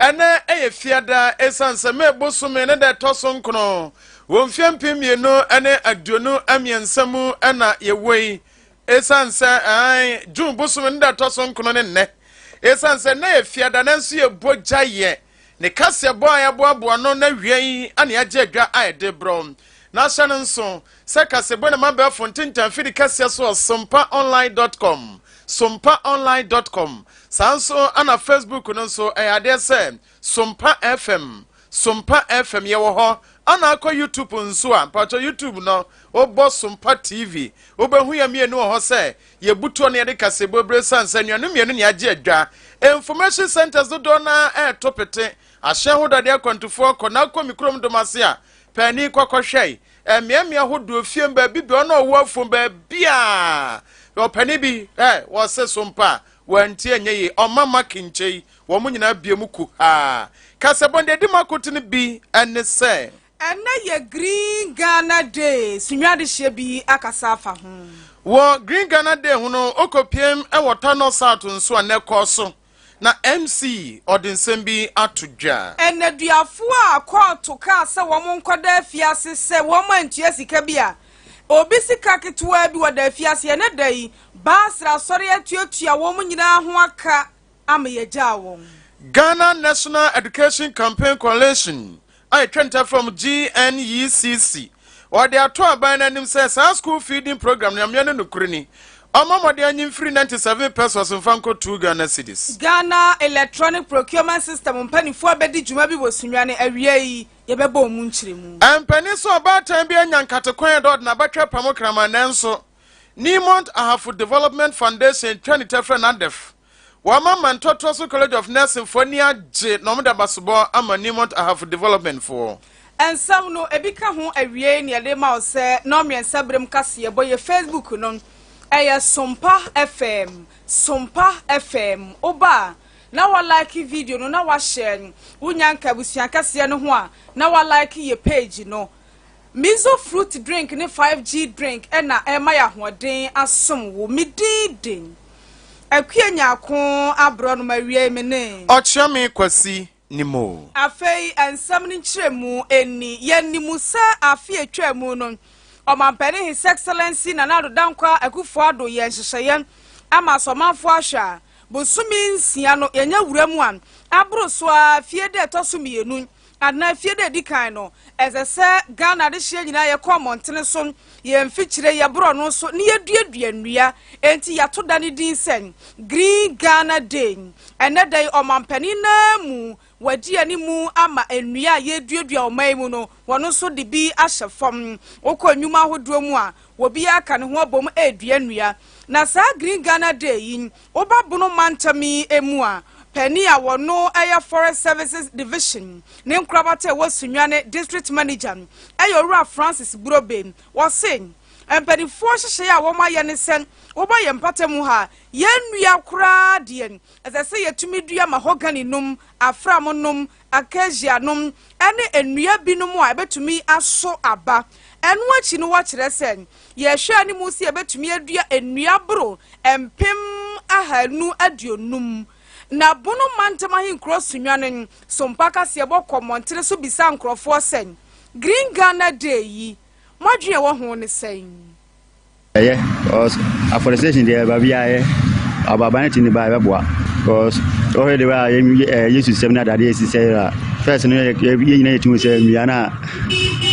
Ɛnnɛ yɛ Fiada, esiane sɛ May bosome ne da ɛtɔ so nkono wɔ mfeɛ mpem mmienu ne aduonu mmiɛnsa mu na yɛwɔ yi. Esiane sɛ ɛn June bosome ne da ɛtɔ so nkono ne nnɛ. Esiane sɛ nnɛ yɛ Fiada nanso yɛbɔ gya yɛ ne kaseɛbɔ a yɛaboaboa no n'awiei ne agye adwa a ɛde brɛ na ahyɛ no nso Sɛ kasebɔ na m'abɛɛfo ntentan firi kɛseɛ so wɔ sompaonline dot com, sompaonline dot com, saa nso na Facebook no nso ɛyɛ adeɛ sɛ Sompa FM, Sompa FM, yɛwɔ hɔ ana akɔ YouTube nso a mpakyɛ YouTube no wobɔ Sompa TV wobɛhu yɛ mmienu wɔ hɔ sɛ yɛbutuo na yɛde kasebɔ bire sane sɛ nnuanom mmienu ne agye adwa information centers dodoɔ na ɛɛto pete ahyɛn ho dade akwantufoɔ kɔ na akɔ me kurom dom ase a paani kɔkɔhwɛe mmeammea ahodoɔ fie baabi bia ɔna ɔwɔ afom baabi a ɔpɛne bi ɛ wɔse so mpa a wɔanti ɛnyɛ yi ɔma ma kinkyɛ yi wɔn mo nyinaa bie mu ku haa kasɛbɔn deɛ di mu akoto no bi ɛne sɛ ɛnɛ yɛ green ghana day sunwadehyɛ bi akasa afa ho wɔ green ghana day ho no okɔ piem ɛwɔ tanɔ south nso a nɛ kɔɔ so na MC ɔde nsɛm bi ato dwa. Nneduafo a kɔɔto kaa sɛ wɔnkɔda afiase sɛ wɔantua sika bi a obi sika ketewaa bi wɔda afiase ɛnnɛ da yi, Basra Asɔre atuatua wɔn nyinaa ho aka ama yɛagyaa wɔn. Ghana National Education Campaign Coalition a etwa nta fam GNECC. Wɔde ato aban no anim sɛ saa school feeding program no amia ne nokore ni. Ɔmmɔ mmɔden anyi mfiri 97 pesos mfa nkɔtuu Ghana cedis. Ghana Electronic Procurement System mpaninfoɔ abɛdi dwuma bi wɔ Sunyani, awia yi yɛbɛbɔ ɔmo nkyerɛmu. Ɛmpanin sɛ ɔbaatan bi anya nkate kwan a ɛda ɔde n'abatwɛ pamo kraman nanso Niemont Ahafo Development Foundation twa ne ta frɛ no ADEF. Wɔama ma Ntoatoaso College of Nursing foɔ ani agye na wɔde abasobɔ ama Newmont Ahafo Development foɔ. Nsɛm no, ebi ka ho awiei na yɛde rema wo sɛ Nnɔnmiɛnsa berem kaseɛbɔ yɛ Facebook no ɛyɛ Sompa FM, Sompa FM. Woba a, na wa like video no na wahyɛ wo Nyanka abusua kɛseɛ no ho a na wa like yɛ page no. Mizo fruit drink ne 5G drink na ɛrema yɛ ahoɔden asom wo. Me din den. Akua Nyarko abrɔ no mawiei me ne. Ɔkyerɛ me Kwasi nim o. Afei nsɛm no nkyerɛmu nni. Yɛnim sɛ afe a ɛtwaa mu no, Ɔmampanin His Excellency Nana Addo Dankwa Akuffo Addo yɛɛ nhyehyɛeɛ ama sɛ ɔmanfoɔ ahwɛ a, bosome nsia no yɛnyɛ wuram a, aboro so ara fie da a ɛtɔ so mmienu, Anaa afie da edi kan no, ɛsɛ sɛ Ghana adehyeɛ nyinaa yɛkɔ mmɔntene so, yɛn mfikyire, yɛborɔ no so na yɛduadua nnua. Enti yɛato da no din sɛ Green Ghana Day. Ɛnnɛ da yi, ɔmampanin no ara mu wadi anim ama nnua a yɛreduadua wɔ ɔman mu no, wɔn nso de bi ahyɛ fam. Wokɔ nnwuma ahodoɔ mu a, obiara ka ne ho abom redua nnua. Na saa Green Ghana Day yi, Woba Bono mantam yi mu a, panyin a ɔno yɛ Forest Services Division ne nkorabata a ɛwɔ Sunyani District Manager yɛ Owura Francis Burobe. Ɔse, Mpanimfoɔ nhyehyɛe a wɔayɛ ne sɛ woba yɛn mpata mu ha a, yɛnnua koraa deɛ, ɛsɛ sɛ yɛtumi dua mahogany nom, afram nom, acacia nom ne nnua binom a ebetumi aso aba. Ɛno akyi no wɔkyerɛ sɛ, yɛhwɛ a ne mu sɛ yebetumi adua nnua boro mpem ahanu aduonum. Na Bono Mantam Ahenkurow Sunnwa no sompa kaseɛbɔ kɔ mmɔntene so bisa nkurɔfoɔ sɛ, Green Ghana Day yi, mo adwene a ɛwɔ ho ne sɛn? Ɛyɛ cause afforestation deɛ baabi a yɛ ababan ne ti ne ba ɛbɛboa cause ɔhwɛ de a yɛ yesu sɛm ne adadeɛ esi sɛ a fɛs no yɛ nyina yɛ tumi sɛ nnua no a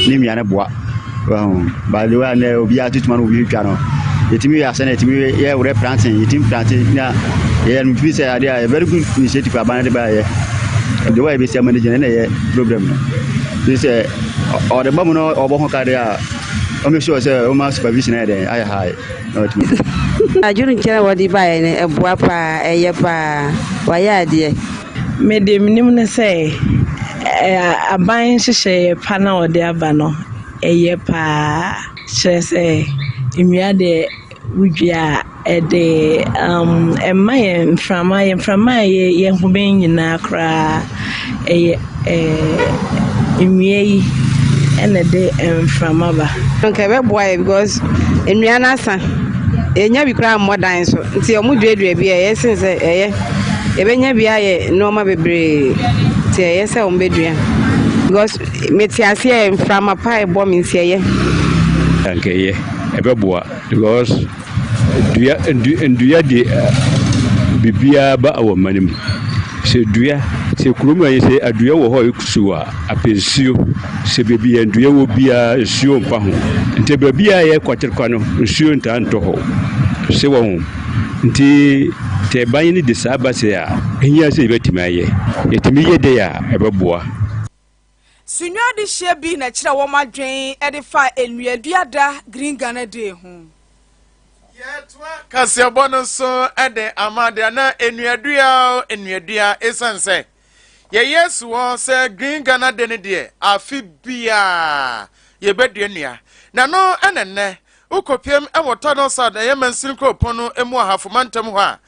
ne nnua no boa wɔn by the way a nɛ obiara tutuma no obi twa no yɛtumi yɛ asɛ na yɛtumi yɛ wɛrɛ planting yɛtumi planting na yɛyɛ no tumi sɛ adeɛ a yɛ very good initiative aban de ba yɛ de wa yɛ bɛsi ama ne gyina na yɛ problem no sɛ ɔde ba mu no ɔbɔ ho ka deɛ a Wọ́n mi sure sẹ́ wọ́n máa supervision ẹ̀ dẹ̀ ayẹ high na wọ́n tumi. Adwene nkyɛn a wɔde baeɛ no ɛboa paa ɛyɛ paa wayɛ adeɛ. Mede menim ne sɛ aban nhyehyɛeɛ pa na wɔde aba no ɛyɛ paa kyerɛ sɛ nnua deɛ. Wodua a, ɛde um, ɛma yɛ mframa, yɛ mframa a ɛyɛ yɛ ho bɛn nyinaa koraa. Ɛyɛ ɛɛ nnua yi ɛna ɛde mframa ba. Nka ɛbɛboa yɛ because nnua no asa, yɛnya bi koraa mmɔ dan so. Nti wɔn duadua bi a ɛyɛ sen sɛ ɛyɛ yɛbɛnya bi ayɛ nneɛma bebree. Nti ɛyɛ sɛ wɔn bɛdua because mete aseɛ mframa paa ɛbɔ me nti ɛyɛ. Nka ɛyɛ. Ɛbɛboa because dua dua dua de biribiara ba wɔ mma no mu. Sɛ dua sɛ kurom ha yi sɛ adua wɔ hɔ a ɛkusu a apɛ nsuo. Sɛ baabi a dua wɔ biara nsuo mfa ho. Nti baabi a ɛyɛ kwaterekwa no nsuo ntaa ntɔ hɔ. Se wɔ ho. Nti sɛ ban no de saa ba sɛ a, ɛhia sɛ yɛbɛtumi ayɛ. Yɛtumi yɛ dɛ a ɛbɛboa. Sunyɔ adehyeɛ bi na ɛkyerɛ wɔn adwene de fa Nnuadua Da Green Ghana Day ho. Yɛtoa kaseɛbɔ no so de ama deɛ na nnuadua nnuadua ɛsiane sɛ yɛyɛ su hɔ sɛ Green Ghana Day no deɛ afe biara yɛbɛdua nnua na no ɛna nnɛ Wo kɔpiem wɔ Tunnel South ɛyɛ Mansini Kuropɔn no mu Ahafo Mantam hɔ a,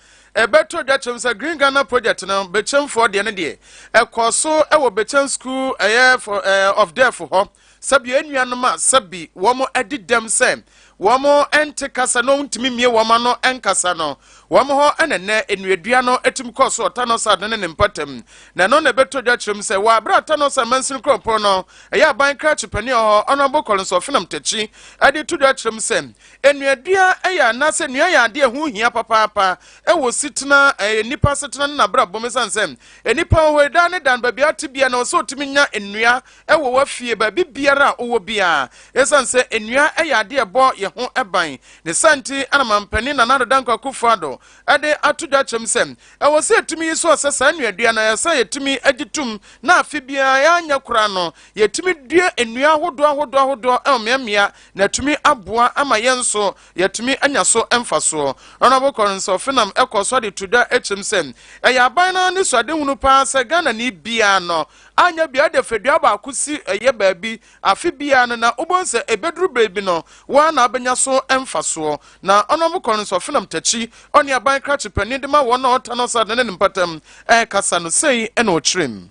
ɛbɛto dwa kyerɛm sɛ Green Ghana Project no Bekyem foɔ deɛ no deɛ, ɛkɔɔ so wɔ Bekyem School ɛyɛ for eh, of Deaf hɔ. Sɛbi anuanom a sɛbi wɔn adi dɛm sɛ wɔn nte kasa na wɔn ntumi mmie wɔn ano nkasa no, Wɔn hɔ na nnɛ nnuadua no tumi kɔ so wɔ Tanɔsad no ne ne mpɔtam, na ɛno na ɛbɛtɔ dwa kyerɛ mu sɛ wɔ bere a Tanɔsad mansini kuropɔn no ɛyɛ aban krakye panin wɔ hɔ Honourable Collins Ɔfenam Takyi de to dwa kyerɛ mu sɛ nnuadua yɛ anaasɛ nnua yɛ adeɛ a ɛho hia papaapa wɔ sitena ɛyɛ nnipa asetena ne n'abrabɔ mu esiane sɛ nnipa wɔ hɔ yi daa ne daa no baabi a tebea na wɔ sɛ wɔtumi nya nnua wɔ w'afie, baabi biara a wowɔ biara. Esiane sɛ nnuan yɛ ade a ɛbɔ yɛn ho ban ne saa nti na Mampanin Nana Addo Dankwa Akufo-Addo de ato dwa kyerɛm sɛ, ɛwɔ sɛ yetumi yi so ɔsɛ saa nnuadua no. Ɛyɛ sɛ yetumi gye tom na afe biara yɛn anyɛ koraa no, yetumi dua nnuan ahodoɔ ahodoɔ ahodoɔ wɔ mmeammea na atumi aboa ama yɛn nso yɛatumi anya so mfasoɔ. Honourable Collins Ofenam kɔɔ so de to dwa kyerɛm sɛ, ɛyɛ aban no anisoadehunu paa sɛ Ghanani biara no, Anyɛ biara de fadua baako si ɛyɛ baabi afe biara no na wobɛhu sɛ ɛbɛduru berɛ bi no wo ara na wobɛnya so mfasoɔ. Na ɔno a mokɔ no nso ɔfenam takyi ɔne aban krakye panin de ma wɔn a wɔtan ɔsɛ adane no mpatam kasa no sei na ɔkyerɛ mu.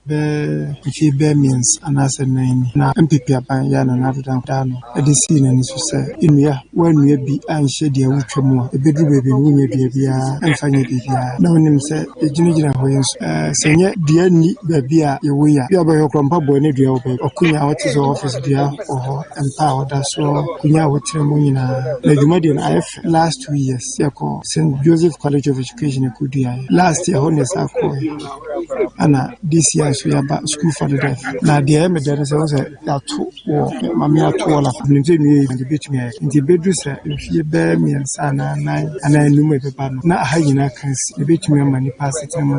Bɛɛ mfe bɛɛ mmiɛnsa anaasɛ nnan ni na mpepeaban yɛ a na n'adeda nkɔdaa no. de sii n'ani so sɛ, Nnua, woannua bi anhyɛ dua a wotwa mu a ebedu baabi no wonnya dua biara mfa nyɛ biribiara. Na wunim sɛ yegyinagyina hɔ yi nso ɛ, sɛ ɛnyɛ dua nni baabi a yɛwɔ yi a, ebia wobɛhwɛ koraa mpaboa ne dua wɔ baabi, akonnwa a wote so wɔ office dua wɔ hɔ, mpa a woda so, akonnwa a wotra mu nyinaa. Na dwuma deɛ no ayɛ fɛ. Last two years yɛkɔɔ St. Joseph College of Education yekoduaeɛ. Last year hɔ na yɛsan kɔeɛ. Ɛna this year nso yɛaba, sukuufo adeda fie. Na deɛ ɛyɛ me dɛ ne sɛ, wohu sɛ yɛato wɔ ma me ato wɔ la menim sɛ nnuo yɛ de bɛtumi ayɛ nti bɛduru sɛ mfie bɛɛ mmiɛnsa anaa nan anaa anum ɛbɛba no na aha nyinaa kan si ɛbɛtumi ama nipa asetena mu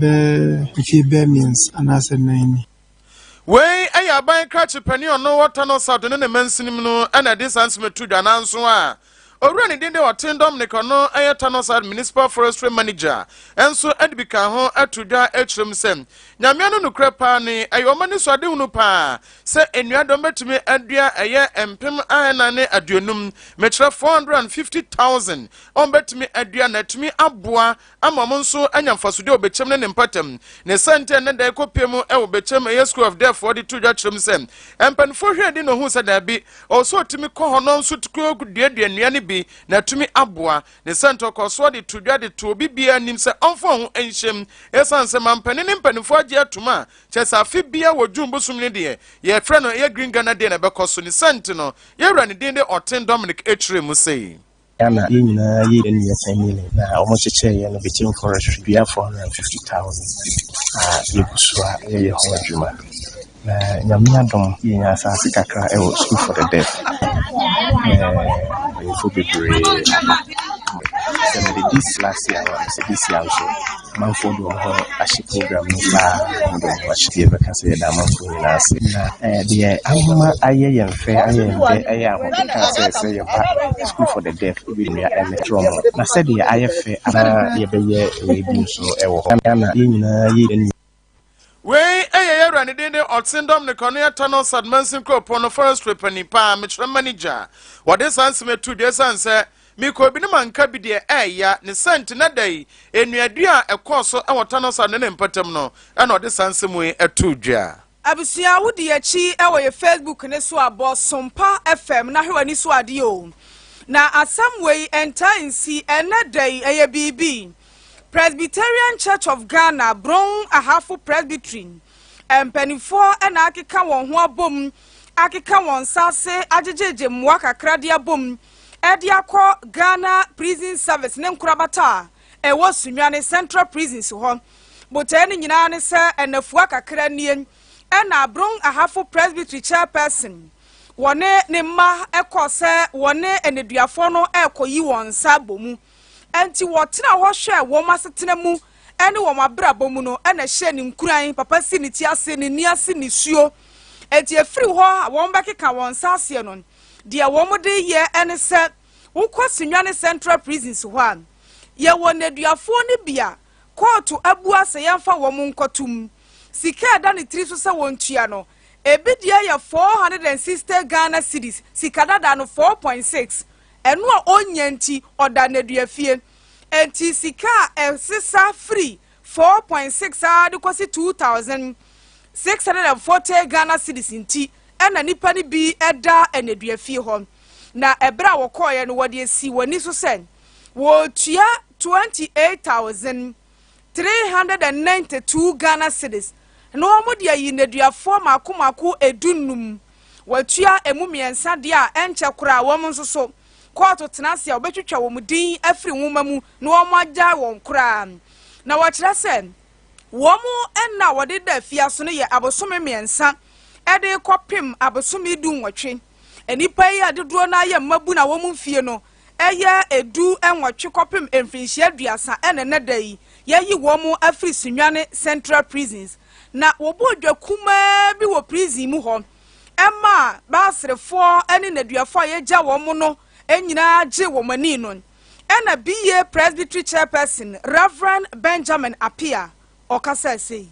bɛɛ mfie bɛɛ mmiɛnsa anaasɛ nan ni Wei ɛyɛ aban krakye panin ɔno ɔtɔ no sa do ne ne mansin mu no ɛna ɛde saa nsɛm ɛto dwa nanso a Owura ne din de Ɔten Dominic a ɔno yɛ Tanoside Municipal Forestry Manager nso de bi kaa ho too dwa kyerɛɛ mu sɛ, Nyamea no nokorɛ paa no yi, ɛyɛ wɔn anisoadehunu paa sɛ nnua deɛ wɔbɛtumi adua ɛyɛ mpem ahanan ne aduonum, mekyerɛ, four hundred and fifty thousand, a wɔbɛtumi adua na atumi aboa ama ɔmo nso anya mfasode wɔ bɛkyɛm ne ne mpatam. Ne sɛntɛ nnɛ da ɛkɔ pie mu wɔ bɛkyɛm ɛyɛ School of Deaf foɔ de to dwa kyerɛ mu sɛ mpaninfoɔ hwɛɛ din na ohuu sɛ daabi ɔwɔ sɛ ɔtumi kɔ hɔ na ɔnso tumi duadua nnua no bi na atumi aboa ne sɛntɛ ɔkɔɔsoɔ de to dwa de to obi biaa anim sɛ ɔmfa ɔho nhyɛm ɛsiane sɛ mampanin ne mpaninfoɔ agye atom a kyerɛ sɛ afe biaa wɔ June bosom no deɛ yɛfrɛ no ɛyɛ Green Ghana Day na ɛbɛkɔ so ne sɛnte no yɛwura ne din de Ɔten Dominic ɛkyerɛ mu sɛ. Ná na yɛn nyinaa yɛ yɛn nua Sandile, na wɔkyekyɛɛ yɛn no Betim Forestry dua 450,000 a yɛgu so a yɛyɛ ho adwuma. Na Nyame adom, yɛnya asase kakra wɔ School for the Deaf. Mpanyimfo bebree aba. Sɛ mede this last year no a, sɛ this year nso Amanfoɔ de wɔn ho ahyɛ program no mu paa. Wɔn de wɔn ho ahyɛ. Deɛ ɛbɛka sɛ yɛda amanfoɔ nyinaa ase. Na eh, deɛ ama ayɛ yɛn fɛ, ayɛ yɛn dɛ, ɛyɛ ahokeka sɛ sɛ yɛba School for the Deaf bi nua ɛmɛkyerɛ wɔn. Na sɛdeɛ ayɛ fɛ a, na yɛbɛyɛ wei bi nso wɔ hɔ. Na yɛn nyinaa yɛ yɛn nua. Wei yɛ yɛn wura ne din de Ɔtsendɔm ne Kɔne Ata no Sadmansin kuropɔn no forestry panyin pa a mekyerɛ manager. Wɔde saa nsɛm yi to dwa esiane sɛ mekɔɔ bi no ma nka bi deɛ ɛɛya ne sɛ nti na da yi nnuadua a ɛkɔɔ so wɔ Tano Sad ne ne mpatam no ɛna ɔde saa nsɛm yi to dwa. Abusua wo di akyi wɔ yɛ Facebook ne so a bɔ Sompa FM na hwɛ w'ani so adeɛ o. Na asɛm wei ɛntaa nsi ɛnɛ da yi ɛyɛ biribi. Presbyterian Church of Ghana, Brong Ahafo Presbytery, mpanimfoɔ na akeka wɔn ho abom akeka wɔn nsa ase agyegyegye mmoa kakra de abom de akɔ Ghana Prison Service ne nkorabata a ɛwɔ Sunyani Central Prisons hɔ. Botaeɛ no nyinaa ne sɛ nnafua kakra nie na Brong Ahafo Presbytery Chairperson wɔne ne mma kɔɔ sɛ wɔne nneduafoɔ no rekɔyi wɔn nsa abɔ mu. Enti wɔtenaa hɔ hwɛɛ wɔn asetena mu ne wɔn abrabɔ mu no na ɛhyɛɛ no nkuran, papa si ne ti ase, ne nne ase nisuo. Enti ɛfiri hɔ a wɔbɛkeka wɔn nsa aseɛ no, deɛ wɔde reyɛ ne sɛ, wokɔ Sunyani Central Prisons hɔ a, yɛwɔ nneduafoɔ no bi a kɔɔto abua sɛ yɛmfa wɔn nkɔto mu. Sika a ɛda ne tiri so sɛ wɔntua no, ebi deɛ yɛ 460 Ghana cedis, sika dada no, 4.6. Ɛno a ɔnnya nti, ɔda nneduafie. Enti sika a ɛsesa firi four point six ara de kɔsi two thousand, six hundred and forty Ghana cedis nti na nnipa no bi da nneduafie hɔ. Na ɛberɛ a wɔkɔeɛ no, wɔde asi wɔn ani so sɛ wɔretua twenty eight thousand 392 Ghana cedis na wɔde ayi nneduafoɔ mmaako mmaako du nnum. Wɔatua ɛmu mmiɛnsa deɛ a ɛnkyɛ koraa wɔn nso so, kɔɔto tena ase a wɔbɛtwitwa wɔn din afiri nwoma mu na wɔagyae wɔn koraa. Na wɔkyerɛ sɛ wɔn nna a wɔde da afiase no yɛ abosome mmiɛnsa de rekɔpem abosome du nnwɔtwe. Nnipa yi a dodoɔ no ara yɛ mmabunu a wɔn mfie no yɛ du nwɔtwe kɔpem mfirinhyia aduasa na ɛnnɛ da yi yɛayi wɔn afiri Sunyani Central Prisons na wɔbɔɔ dwa kumaa bi wɔ prison mu hɔ ma Baasrefoɔ ne nneduafoɔ a yɛagya wɔn no nyinaa gyee wɔn ani no ɛna BA Presbytery Chairperson Reverend Benjamin Appiah ɔkasa sei.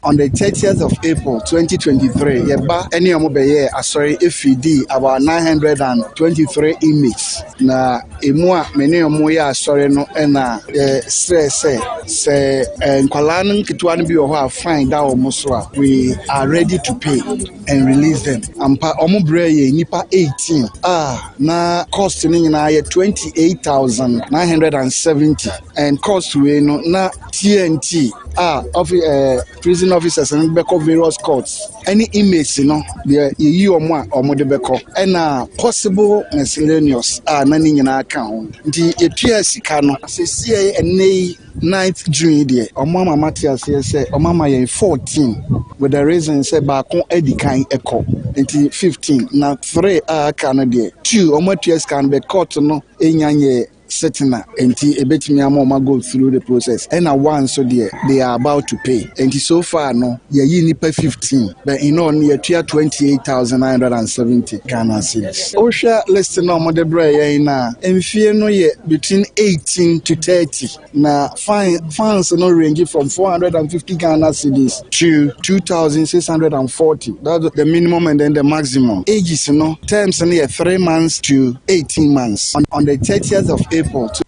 On the thirtieth of April, twenty twenty three, yɛn ba ne wɔn bɛyɛɛ asɔre firi dii about nine hundred and twenty three inmates. Na emu a me ne wɔn yɛ asɔre no na yɛsrɛɛ sɛ sɛ eh, nkwadaa no nketewa no bi wɔ hɔ a fine da wɔn so a, we are ready to pay and release them. Ampa, wɔn brɛɛ yɛn nnipa eighteen a na cost no nyinaa yɛ twenty eight thousand nine hundred and seventy and cost wei no na TNT a ɔfi ɛɛ eh, prison officers no bɛkɔ various courts ɛne inmates no deɛ yɛyi wɔn a wɔn de bɛkɔ ɛna possible miscellaneous a na ne nyinaa ka ho nti yɛtua sika no sesie ɛnɛ yi ninth june yi deɛ wɔn ama mate aseɛ sɛ wɔn ama yɛn fourteen with the reason sɛ baako adi kan ɛkɔ nti fifteen na three a aka no deɛ two wɔn atua sika no bɛ court no enya nyɛ setena nti ebetumi ama wɔn go through the process ɛna one nso deɛ they are about to pay nti so far no yɛyi nipa fifteen but in all no yɛtua twenty eight thousand nine hundred and seventy ghana cedis wohwɛ list na wɔde brɛ yɛn na mfie no yɛ between eighteen to thirty na Fans no range from four hundred and fifty Ghana cedis to two thousand six hundred and forty that's the minimum and then the maximum ages no terms no yɛ three months to eighteen months on, on the thirtieth of April. To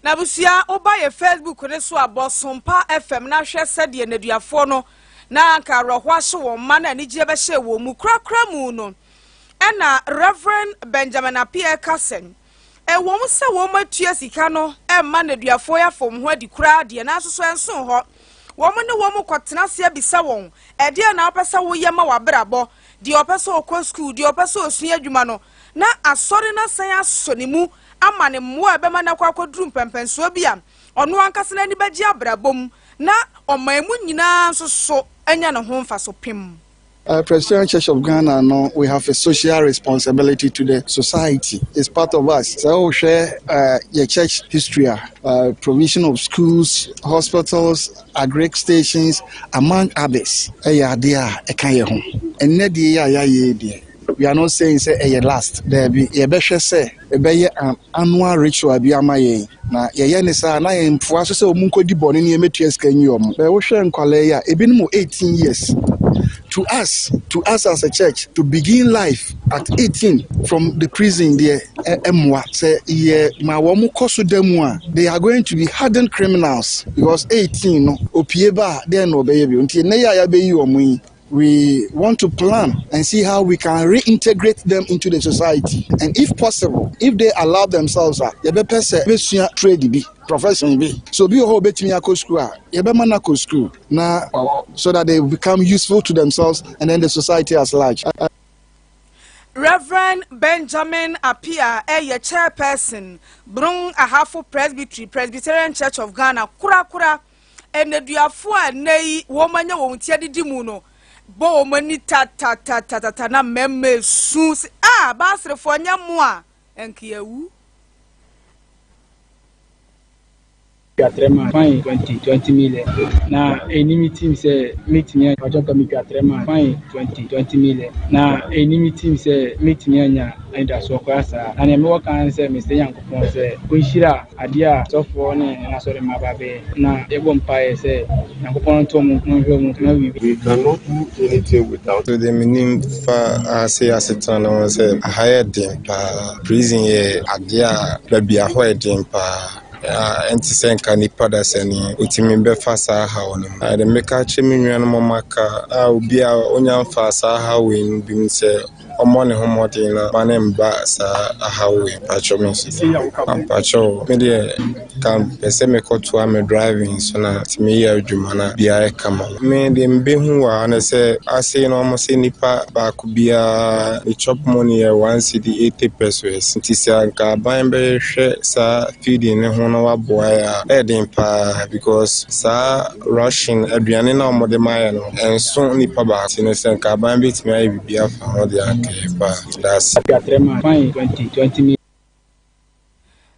na busua woba yɛ facebook ne so a bɔsompa fm na hwɛ sɛdeɛ nnaduafoɔ no na anka awerɛho ahyɛ wɔn mma na anigyeɛ bɛhyɛ wɔn mu korakora mu no ɛna reverend benjamin apeɛ ɛka sɛn Ɛwom sɛ wɔatua sika no ma nneduafoɔ yi afa wɔn ho adi koraa deɛ, nanso so ɛnsoo hɔ? Wɔne wɔn kɔtena ase abisa wɔn, Ɛdeɛn na wopɛ sɛ woyɛ ma w'abrabɔ? Deɛ ɔpɛ sɛ ɔkɔ sukuu, deɛ ɔpɛ sɛ ɔsua adwuma no, na asɔre no asan asɔ ne mu ama no mmoa a ɛbɛma no akɔ akɔduru mpɛnpɛnsoɔ bi a ɔno ankasa n'ani bɛgye abrabɔ mu na ɔman mu nyinaa nso so anya ne ho mfaso pem. Presbyterian Church of Ghana no we have a social responsibility to the society is part of us sɛ wo hwɛ yɛ church history a provision of schools hospitals agric stations among others ɛyɛ adeɛ a ɛka yɛ ho ɛnɛ deɛ yɛ a yɛayɛ deɛ we are not saying sɛ ɛyɛ last daabi yɛbɛhwɛ sɛ ɛbɛyɛ an annual ritual bi ama yɛn, na yɛyɛ ne saa a, na yɛn mfoa so sɛ wɔn nkɔdi bɔne ne yɛmmɛtua sika nyi wɔn. Sɛ wohwɛ nkwadaa yi a, ebinom wɔ eighteen years. To us, to us as a church, to begin life at eighteen from the prison deɛ, ɛ ɛmmoa. Sɛ yɛma wɔn kɔ so da mu a, they are going to be hardened criminals, because eighteen no, opue ba a, dɛn na ɔbɛyɛ bio? Nti nnɛ yi a yɛabɛyi wɔn yi, We want to plan and see how we can reintegrate them into the society and if possible if they allow themselves a yɛbɛpɛ sɛ bɛsua trade bi profession bi so obi wɔ hɔ obetumi akɔ school a yɛbɛma no akɔ school na so that they become useful to themselves and then the society as large. Reverend Benjamin Apia ɛyɛ chairperson Brong Ahafo Presbytery Presbyterian Church of Ghana korakora. nneduafo a nnɛyi wɔanya wɔn ti adidi mu no bɔ wɔn ani tatatatatata na mmarima esu se, A, Baasrefo, ɛnyɛ mo a, ɛnka yɛawu. twa trɛm a fain 20 20 million na ɛni me tim sɛ mɛtumi anya ɔkyɛ kɔ metwa trɛm a fain 20 20 million na ɛni me tim sɛ mɛtumi anya anidasoɔ koraa saa na nea mewɔ kan sɛ mesɛ nyankopɔn sɛ ɔnhyira Adeɛ a asɔfoɔ ne wɔn asɔremma ba bɛyɛ, na yɛbɔ mpaeɛ sɛ Nyankopɔn ntɔ mu nhwɛ mu mma biribiara. We cannot do anything without. So deɛ menim fa ase asetena no ho sɛ aha yɛ den paa. Prison yɛ adeɛ a baabi a hɔ yɛ den paa a ɛnte sɛ nka nipa dasani otumi bɛfa saa haw no mu. Ɛde meka akyerɛ me nuanom a wɔaka a obiara onya mfaa saa haw wei mu bi mu sɛ Ɔmmɔ ne ho mmɔden na mma no mma saa ahaw wei mpakyɛw me nso mpakyɛw me deɛ ka pɛ sɛ mekɔtoa me driving so na nti meyɛ adwuma na biara yɛ kama me deɛ mebɛhu wɔ ha no sɛ ase no ɔmo sɛ nipa baako biara ne chop money yɛ one city eighty pesos nti sɛ anka aban bɛhwɛ saa feeding ne ho na waboa yɛ a ɛyɛ den paa because saa rushing aduane na ɔmo de ma yɛ no Ɛnso nnipa baasa ti ne sɛ nka aban betumi ayɛ biribi afa ho de anka yɛn pɛ a. Dase.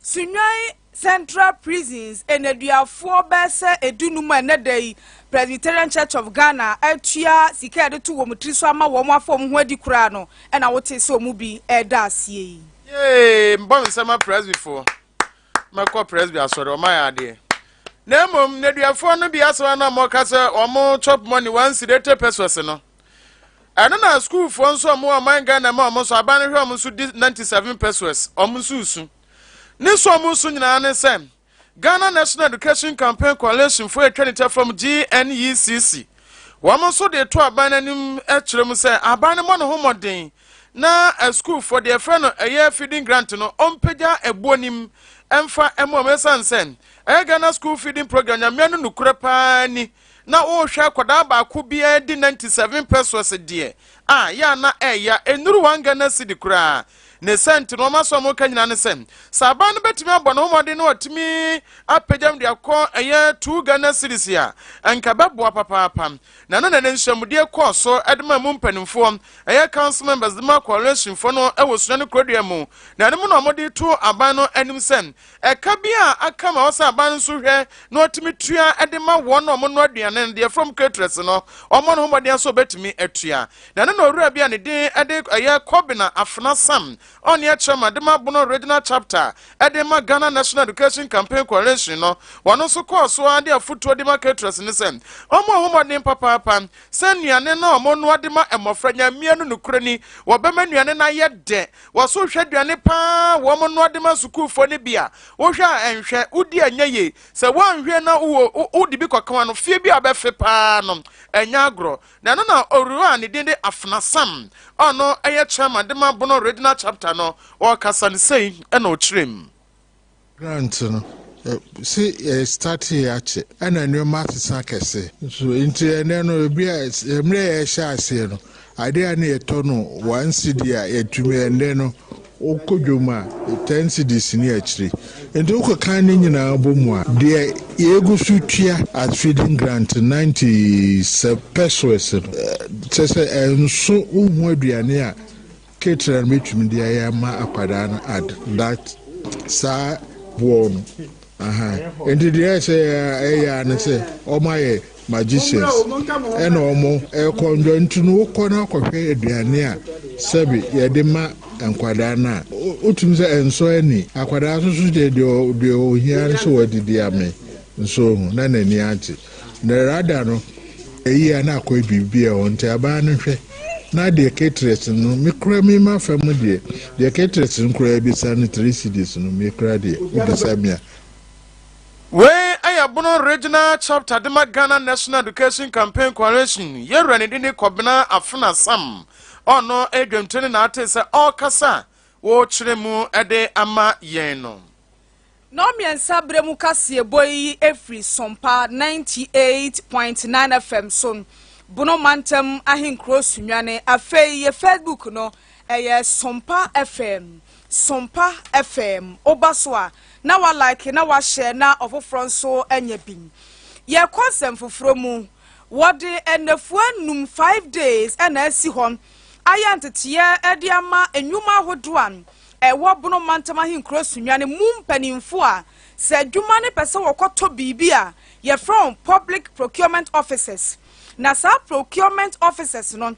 Sunyani Central Prisons nneduafoɔ bɛyɛ sɛ dunum a ɛnnɛ da yi Presbyterian Church of Ghana atua sika a yɛde to wɔn tiri so ama wɔn afa wɔn ho adi koraa no na wotee sɛ wɔn bi reda aseɛ yi. Yay! Mbɔ nsɛmma Presbyfoɔ. mɛkɔ presby asɔre ɔma yɛ adeɛ na mmom nneduafoɔ no bi asɛm na wɔka sɛ wɔn chop money one cedi eighty pesos no ɛno na sukuufoɔ nso wɔn ɔman ghana ma wɔn nso aban no hwɛ wɔn nso di ninety seven pesos wɔn nso resu ne so wɔn nso nyinaa ne sɛ ghana national education campaign coalition foɔ atwa ne tɛfam gnecc wɔn nso de to aban no anim kyerɛ mu sɛ aban no mmɔ ne ho mmɔden na asukuufo deɛ ɛfrɛ no ɛyɛ feeding grant no ɔmpagya ɛboɔ nim ɛmfa ɛmo ɔmo ɛsan sɛ ɛyɛ Ghana school feeding program nyamea no nukurɛ paa ni na ɔrehwɛ akwadaa baako biara di 97 pesos deɛ a yɛ ana ɛya ɛnuru one Ghana cedi koraa ne sɛnti no ɔma sɛ ɔmo ka nyinaa ne sɛ sɛ abaa no bɛtumi abɔ ne homɔden na ɔtumi apagyam de akɔ ɛyɛ two Ghana cedis a ɛnka bɛboa papaapa Na ɛno na ne nhyiamudie kɔɔ so de maa mu mpanimfoɔ, ɛyɛ council members de maa coalitionfoɔ no wɔ Sunyani Kurodua mu, na ɛno mu na wɔde too aban no anim sɛ ɛka bi a aka ma wɔsɛ aban no nso hwɛ na wɔtumi tua de ma wɔn a wɔnoa aduane no, deɛ from caterers no, wɔmmɔ ne ho mmɔden sɛ wɔbɛtumi atua. Na ɛno na owura bi a ne din de ɛyɛ Kobina Afena Sam Ɔnea kyerɛ ma de ma Bono Regional Chapter de ma Ghana National Education Campaign Coalition no, ɔno nso kɔɔ so ara de afotuo de ma caterers no sɛ wɔmmɔ ho mmɔden papaapa sɛ nnuane no a wɔnoa de ma mmɔfra nya mmea no nokorɛ ni wɔbɛma nnuane no ayɛ dɛ wɔ so hwɛ aduane paa a wɔnoa de ma sukuufoɔ no bi a wohwɛ a ɛnhwɛ wodi a ɛnyɛ yie sɛ woanhwɛ na wowɔ wode bi kɔka ano fie bi a ɔbɛfe paa no ɛnyɛ agorɔ Na ɛno na Owura a ne din de Afena Sam a ɔno yɛ Chairman de ma Bono Regional Chapter no, ɔrekasa no sei na ɔkyerɛɛ mu. Grant no, se yɛstartee akye ɛna nnoɔma asesa kɛse nso nti ɛnɛ no ebia mmerɛ yɛhyɛ aseɛ no adeɛ a na yɛtɔ no one cedi a yɛtumi ɛnɛ no Wokɔ dwom a, ten cedis ne akyire. Nti wokekan ne nyinaa bɔ mu a, deɛ yɛgu so tua as feeding grant ninety pesoes no, kyerɛ sɛ ɛnso wo ho aduane a caterer no bɛtumi de ayɛ ama akwadaa no at that saa boɔ no. Ahaa nti deɛ ɛsɛ ɛyɛ a ne sɛ wɔn ayɛ magicians ɛna wɔn ɛkɔ ndwa nti no wokɔ no akɔhwɛ aduane a sɛbi yɛde ma nkwadaa no a wotumi sɛ ɛnsɔ ani akwadaa soso deɛ deɛ ohia no sɛ wadidi ame nso ohu na n'ani agye Narada no, eyi a na akɔyɛ biribi a ɛwɔ nti abaa no hwɛ, na deɛ Cateress no, me koraa me ma fa mu deɛ, deɛ Cateress no koraa bisa no three cedis no, me koraa deɛ, wobisa me a. Wei yɛ Bono Regional Chapter de ma Ghana National Education Campaign Coalition yɛwura ne dini Kɔbena Afena Sam a ɔno yɛ dwamtoni na atee sɛ ɔrekasa wɔ kyerɛ mu de ama yɛn no. Nnɔnmiɛnsa berɛ mu kaseɛbɔ yi firi Sompa 98.9 FM so Bono Mantam Ahenkuro Sunyane Afei yɛ Facebook no ɛyɛ Sompa FM Sompa FM Woba so a na wa like na wa share na ɔfoforɔ nso anya bi Yɛkɔ nsɛm foforɔ mu Wɔde nnafua nnum, five days, na asi hɔ ayɛ nteteɛ de ama nnwuma ahodoɔ a ɛwɔ Bono Mantam Ahenkuro Sunya no mu mpanyimfo a sɛ adwuma no pɛ sɛ wɔkɔtɔ biribi a, yɛfrɛ wɔn Public Procurement Officers. Na saa Procurement Officers no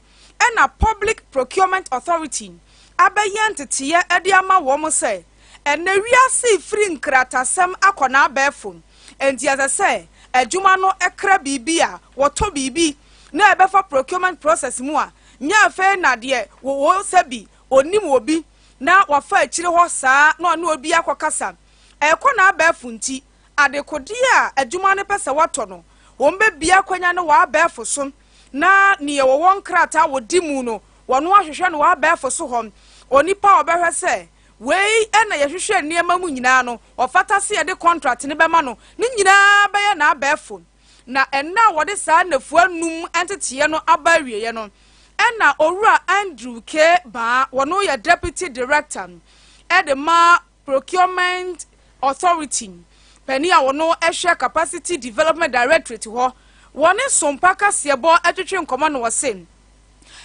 na Public Procurement Authority abɛyɛ nteteeɛ de ama wɔn sɛ ɛnnɛ wiase refiri nkratasɛm akɔ n'abɛɛfo, enti ɛsɛ sɛ adwuma no kra biribi a wɔtɔ biribi na ɛbɛfa procurement process mu a, nyɛ afei na deɛ wɔwɔ sɛ bi ɔnnim obi na wafa akyire hɔ saa na ɔne obi akɔkasa. Ɛrekɔ n'abɛɛfo nti, adekodeɛ a adwuma no pɛ sɛ wɔtɔ no, wɔbɛbue akwanya no wɔ abɛɛfo so na deɛ wɔwɔ nkrataa a wɔdi mu no, wɔno ahwehwɛ no wɔ abɛɛfo so hɔ. Onipa a ɔbɛhwɛ sɛ wei na yɛhwehwɛ nneɛma mu nyinaa no, ɔfata sɛ yɛde kɔntrat no bɛma no no nyinaa bɛyɛ n'abɛɛfo. Na nna a wɔde saa nnafua nnum nteteeɛ no aba awieeɛ no, ɛnna Owura Andrew K. Baa, wɔno yɛ Deputy Director de ma Procurement Authority, panin a wɔno hwɛ Capacity Development Directorate hɔ, wɔne Sompa Kaseɛbɔ twetwe nkɔmmɔ na ɔse,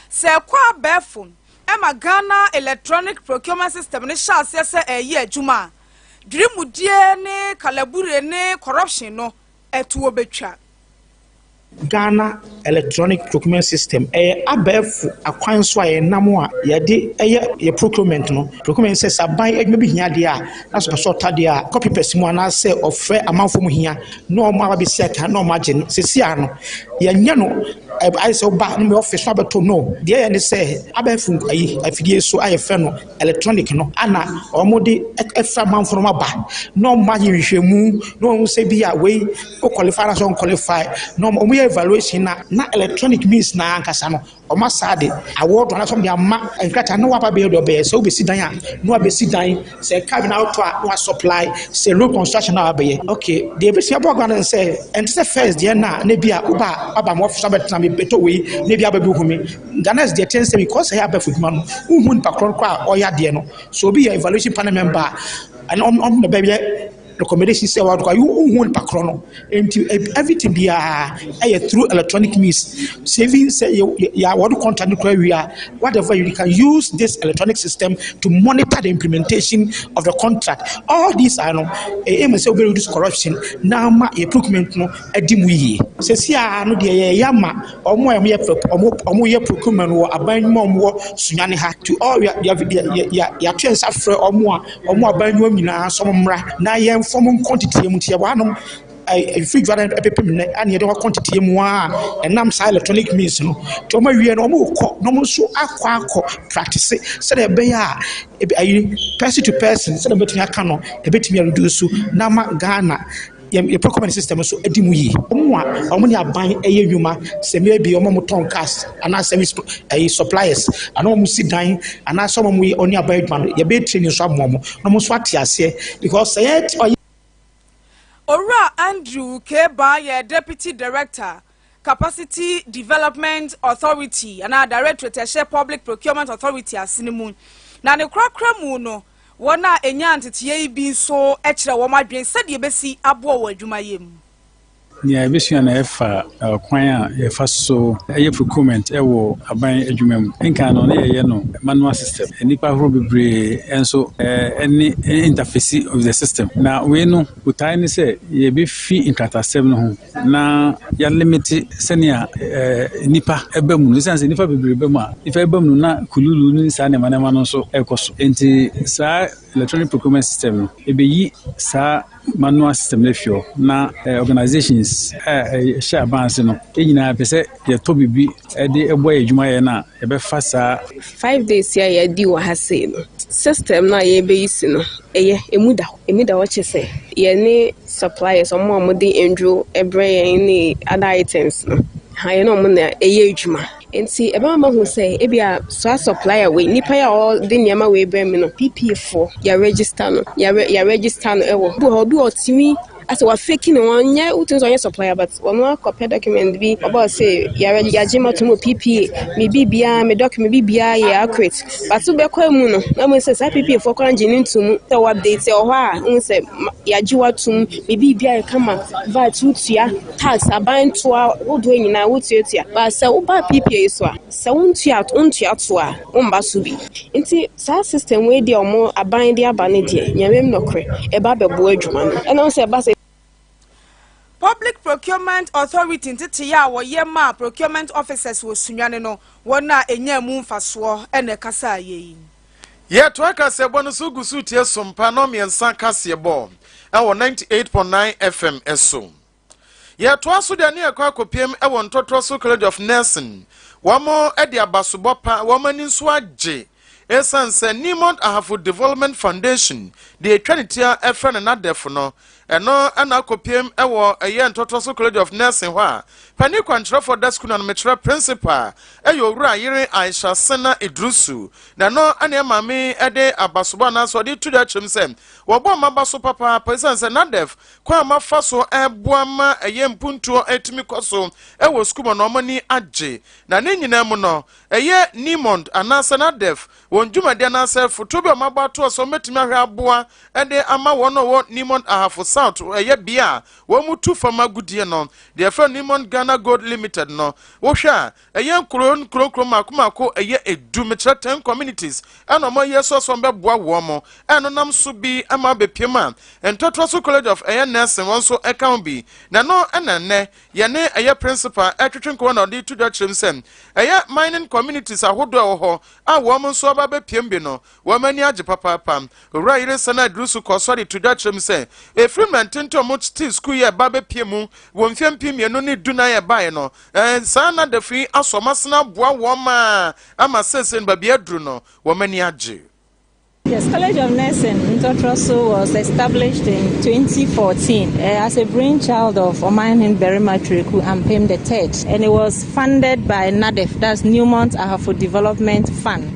Sɛ ɛkɔ abɛɛfo ma Ghana Electronic Procurement System no hyɛ aseɛ sɛ ɛreyɛ adwuma a, dwirimudie ne kalabure ne corruption no, ɛtoɔ bɛtwa. Ghana electronic procurement system, ɛyɛ abɛɛfo akwan so a yɛnam a yɛde yɛ yɛ procurement no. Procurement sɛ sɛ aban adwuma bi hia adeɛ a, na sɛ ɔpɛ sɛ ɔtɔ adeɛ a, ɔkɔ PPERS mu anaasɛ ɔfrɛ amanfoɔ mu hia na wɔn aba bɛsi aka na wɔn agye no. Sɛsi a no, yɛnyɛ no ayɛ sɛ woba na me office na wabɛtɔ, no. Deɛ yɛyɛ ne sɛ abɛɛfo ayi afidie so a yɛfrɛ no electronic no ana wɔde ɛfra amanfoɔ no aba na wɔn ayɛ nhwehwɛmu na wɔn sɛ bi a wei o qualify anaasɛ ɔn qualify na wɔn yɛ evaluation na na electronic means na ankasa no wɔn asa de award anaasɛ wɔn de ama nkrataa na waba bɛyɛ deɛ ɔbɛyɛ sɛ wobɛsi dan a na wabɛsi dan sɛ car bi na wotɔ a na wa supply sɛ road construction na wabɛyɛ okay deɛ ebɛsi abɔ agorɔ no sɛ ɛnte sɛ first deɛ na na bi a woba aba ma ɔfisa bɛtena mi bɛtɔ wei na bi aba bi hu mi. Ganas deɛ ɛkyɛn sɛ because ɛyɛ abɛɛfo adwuma no wohu nipa korɔ no koraa a ɔyɛ adeɛ no so obi yɛ evaluation panel member a ɛne ɔmo ɔmo na bɛyɛ recommendation sɛ wɔde kɔ a wohu nipa korɔ no nti everything biara ɛyɛ through electronic means sɛ even sɛ yɛ yɛ wɔde contract no koraa wie a whatever you can use this electronic system to monitor the implementation of the contract all these are no ɛyɛ mu sɛ wobɛ reduce corruption na ama yɛ procurement no adi mu yie sɛsi a no deɛ yɛyɛ ama Wɔn a wɔyɛ wɔn wɔyɛ procurement wɔ aban nnwuma a wɔwɔ Sunyani ha to all yɛ yɛ yɛ yɛato yɛn nsa frɛ wɔn a wɔn wɔ aban nnwuma mu nyinaa sɛ wɔmmra na yɛmfa wɔn nkɔ ntetee mu nti yɛwɔ hanom ɛɛ mfiri dwa no ɛbɛpem nnɛ ɛna yɛde wɔn akɔ ntetee mu a ɛnam saa electronic means no nti wɔn awie no wɔrekɔ na wɔn nso akɔ akɔ practice sɛdeɛ ɛbɛyɛ a ɛbi ayi person to person sɛdeɛ mɛtumi aka no ɛbɛtumi a reduce na ama Ghana. yɛn yɛn procurement system nso di mu yie. Wɔn a wɔn ne aban yɛ nnwuma sɛ maybe wɔn a wɔtɔn cars anaa service ɛyi suppliers anaa wɔn si dan anaa sɛ wɔn yɛ wɔn ne aban adwuma no yɛbɛyɛ training nso ama wɔn na wɔn nso ate aseɛ because sɛ yɛ ɔyɛ. Owura Andrew Kebaa yɛ Deputy Director Capacity Development Authority anaa Directorate a ɛhyɛ Public Procurement Authority ase no mu. Na ne korakora mu no, wɔn a enyaa nteteeɛ yi bi nso kyerɛ wɔn adwene sɛdeɛ ɛbɛsi aboa wɔn adwumayɛ mu. Nea yɛbɛsua no ɛfa kwan a yɛfa so yɛ procurement wɔ aban adwuma mu. Nkan no na yɛyɛ no manual system. Nnipa ahorow bebree nso ne interface with the system. Na wei no Botae ne sɛ yebefi nkratasɛm no ho na yɛalimite sɛnea nnipa ba mu no. Esiane sɛ nnipa bebree ba mu a, nnipa ba mu no na kululu ne saa nneɛma nneɛma no nso rekɔ so. Enti saa electronic procurement system no, ebeyi saa manual system no afi hɔ na organizations a ɛhyɛ aban ase no nyinaa pɛ sɛ Yɛtɔ biribi de boa yɛn adwuma yɛ no a, yɛbɛfa saa. Five days yi a yɛadi wɔ ha sei no, system no a yɛrebɛyi si no, ɛyɛ, ɛmu da hɔ. Ɛmu da hɔ kyɛ sɛ, yɛne suppliers, wɔn a wɔde nnuro brɛ yɛn ne other items no, ha yɛne wɔn na ɛyɛ adwuma. Nti ɛbɛma mahu sɛ, ebi a saa supplier wei, nipa yi a ɔde nneɛma wei brɛ me no, PPA foɔ, yɛaregister no, yɛare, yɛaregister no wɔ. Ebi wɔ hɔ, obi wɔ ɔtumi Asɛ wa fake no wɔn nyɛ wotumi sɛ ɔnyɛ supplier but wɔn akɔ pɛ document bi ɔbɔ sɛ yɛrɛ yagye ma tomo PPA me bi biara me document bi biara yɛ accurate but so bɛkɔ mu no na mo sɛ saa PPA fo kora gye ne ntum sɛ wɔ update sɛ ɔhɔ a wɔn sɛ yagye wa tum me bi biara yɛ kama VAT wotua tax aban toa wodoɔ nyinaa wotuatua ba sɛ woba PPA so a sɛ wontua wontua toa wɔn ba so bi nti. Saa system wei deɛ ɔmo aban de aba no deɛ nyamem nɔkorɛ ɛba abɛboa adwuma no ɛna ɔsɛ ɛba sɛ. Public Procurement Authority nteteyɛ a wɔyɛ maa Procurement Officers wɔ Sunyani no, wɔn a ɛnyaa mu mfasoɔ na ɛkasaa yei. Yɛtoa kaseɛbɔ no so gu so retie Sompa Nnɔmmiɛnsa kaseɛbɔ wɔ ninety eight point nine FM so. Yɛtoa so de ani rekɔ akɔpiem wɔ Ntoatoa So College of Nursing. Wɔde abasobɔ pa, wɔn ani nso agye esiane sɛ Nimont Ahafo Development Foundation, deɛ ɛtwa ne ti a ɛfrɛ no NADEF no, ɛno na akɔpiem wɔ ɛyɛ Ntoatoa So College of Nursing hɔ a panin kwankyerɛfoɔ da sukuu no ano mekyerɛ principal ɛyɛ Owura Ayere Aisha Sena Idrusu na ɛno ne ɛma me de abasobɔ anaasɛ ɔde to dwa kyerɛm sɛ wɔbɔ mmaba so papaapa esiane sɛ NADEF kwan a mafa so ɛboa ma ɛyɛ mpuntuo ɛtumi kɔ so ɛwɔ sukuu mu na wɔn ani agye na ne nyinaa mu no ɛyɛ Nimond anaasɛ Nadef wɔn dwumadi anaasɛ foto bi a wɔabɔ atoɔ sɛ wɔbɛtumi ahwɛ aboa ɛde ama wɔn a wɔwɔ Nimond Ahafo South ɛyɛ bea a wɔn tu fam agodie no deɛ ɛfrɛ Nimond Ghana Gold Limited no wohwɛ a Ɛyɛ nkuro nkuro nkuro mako mako ɛyɛ edu mekyerɛ ten communities ɛna ɔmo ɛyɛ so so bɛboa wɔn mo ɛno nam so bi ɛma abɛpiem a ntɔtoa so college of ɛyɛ nursing wɔn so ɛka ho bi na ɛno ɛna nnɛ yɛne ɛyɛ principal ɛtwetwe nkɔmɔ na ɔde to dwa kyerɛm sɛ ɛyɛ mining communities ahodoɔ ɛwɔ hɔ a wɔn nso aba abɛpiem bi no Wɔn ani agye papaapa. Owura yere nsa no aduru so kɔɔ so de to dwa kyerɛ mu sɛ, ɛfiri mmerɛ ntenten a wɔtee sukuu yi a ɛba abɛpue mu wɔ mfeɛ mpem mmienu ne du nan ɛbaeɛ no, saa nadafo yi aso wɔn asene aboa wɔn ma ama seesei no baabi a aduru no, wɔn ani agye. Yes College of Nursing Ntɔtrɔso was established in 2014 as a brainchild of Ɔmanhene Barima Twereku Ampem the Third and it was funded by NADEF, that's Newmont Ahafo Development Fund.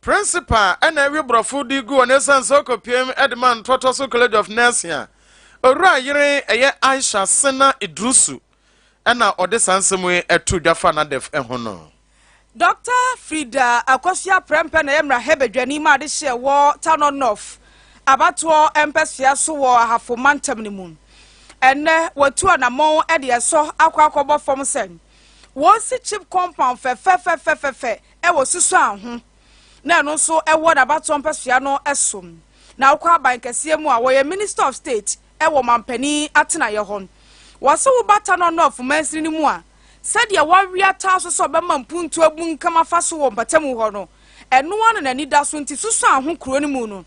Principal na awi borɔfo de gu hɔ na ɛsiane sɛ ɔkɔpiam de ma ntɔtɔ so College of Nursing a owura yere ɛyɛ Aisha Sena Idrusu na ɔde saa nsɛm yi too dwa faa Nadef ho no. Dɔkta Frida Akosua Prempeh na ɛyɛ mmarahyɛ badwani ma adehyeɛ wɔ Tano North abatoɔ mpɛsoa so wɔ Ahafo Mantam no mu. Ɛnnɛ watu anamɔn de ɛsɔ akɔ akɔbɔ fam sɛ wɔnsi chip compound fɛfɛfɛfɛfɛ wɔ susuan ho na ɛno nso wɔ n'abatoɔ mpɛsoa no so. Na wokɔ aban kɛseɛ mu a, wɔyɛ Minister of State wɔ ɔmanpanin atenaeɛ hɔ. Wɔse woba Tanɔ North mansini no mu a, sɛdeɛ wɔawea taa so sɛ ɔbɛma mpuntuo abunkam afa so wɔ mpatamu hɔ no, ɛno ara na n'ani da so. Nti susuan ho kuro no mu no,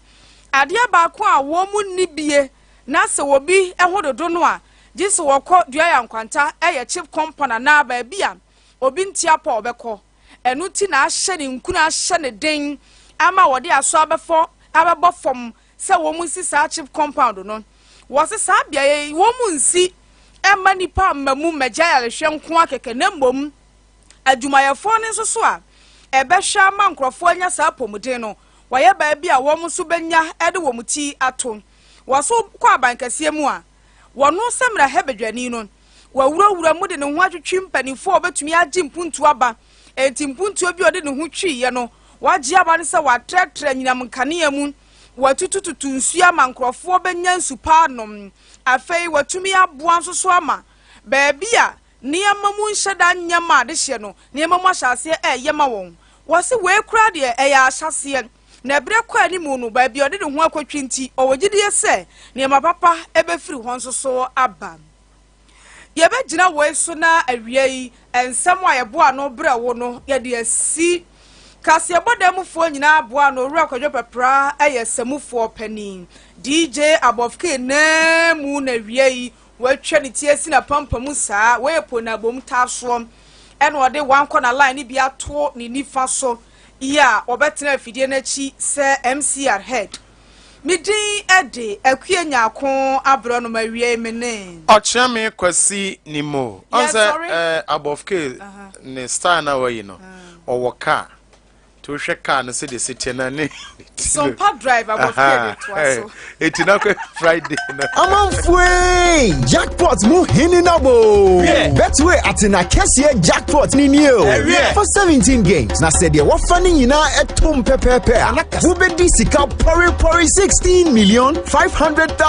adeɛ baako a wɔn nni bie na sɛ obi ho dodo no a, gye sɛ wɔkɔ Duayankwanta, ɛyɛ Chip Compound anaa baabi a obi nte apɔ a ɔbɛkɔ. Ɛno nti na ahyɛ ne nkunu ahyɛ no den ama wɔde aso abɛfɔ abɛbɔ fam sɛ wɔnsi saa chip compound no. Wɔse saa beaeɛ yi wɔnsi mma nnipa mmamu mmɛgye ayarehwɛ nko ara kɛkɛ na mmom adwumayɛfoɔ no nso so a ɛbɛhwɛ ama nkurɔfoɔ anya saa apɔmuden no wɔayɛ baabi a wɔn nso bɛnya de wɔn ti ato. Wɔso kɔ abankɛseɛ mu a, Wɔno sɛ mmarahyɛbadwani no, wawurawura mu de ne ho atwetwe mpanyimfo a wɔbetumi agye mpuntuo aba. Enti mpuntuo bi a ɔde ne ho tweeɛ no, wagye aba no sɛ wɔatrɛtrɛ anyinam nkanea mu, wɔatutututu nsuo ama nkurɔfoɔ bɛnya nsu pa anom. Afei wɔatumi aboa nso so ama baabi a nneɛma mu nhyɛ da nyɛ ma adehyeɛ no, nneɛma mu ahyɛ aseɛ reyɛ ma wɔn. Wɔse wei koraa deɛ, ɛyɛ ahyɛaseɛ. Na berɛ kɔ anim no, baabi a ɔde ne ho akɔtwi nti, ɔwɔ gyidie sɛ nneɛma papa bɛfiri hɔ nso so aba. Yɛbɛgyina woi so na awiei nsɛm a yɛboa ano brɛ wo no, yɛde asi Kaseɛbɔ dan mufoɔ nyinaa aboa ano, Owura Kwadwo Pɛpra yɛ samufoɔ panin, DJ Abɔfkee nan mu na awiei watwa ne ti asi n'apampam saa, wei yɛ Poonabom taasoɔ, ɛna ɔde Wankɔ na line no bi ato ne nifa so, yi a wɔbɛtena afidie no akyi sɛ MCR head. Me din de Akue Nyarko Aborɔnoma Awiei me ne. Ɔkyeame Kwasi ni mo. Ɔn sɛ eh, Abɔfke ne style no a wayi no, ɔwɔ car. Nti wohwɛ car no sɛdeɛ ɛsi teɛ no a ne. Sɔmpa drive abɔfra de toa so. Eti na kɔ Friday na. Amanfoe jackpot mu hini na bo. Betway atena kɛseɛ jackpot ni ni o. For 17 games na sɛ deɛ wɔfa ne nyinaa ɛtom pɛpɛɛpɛ a wobɛdi sika pɔrepɔre 16 million 500,000.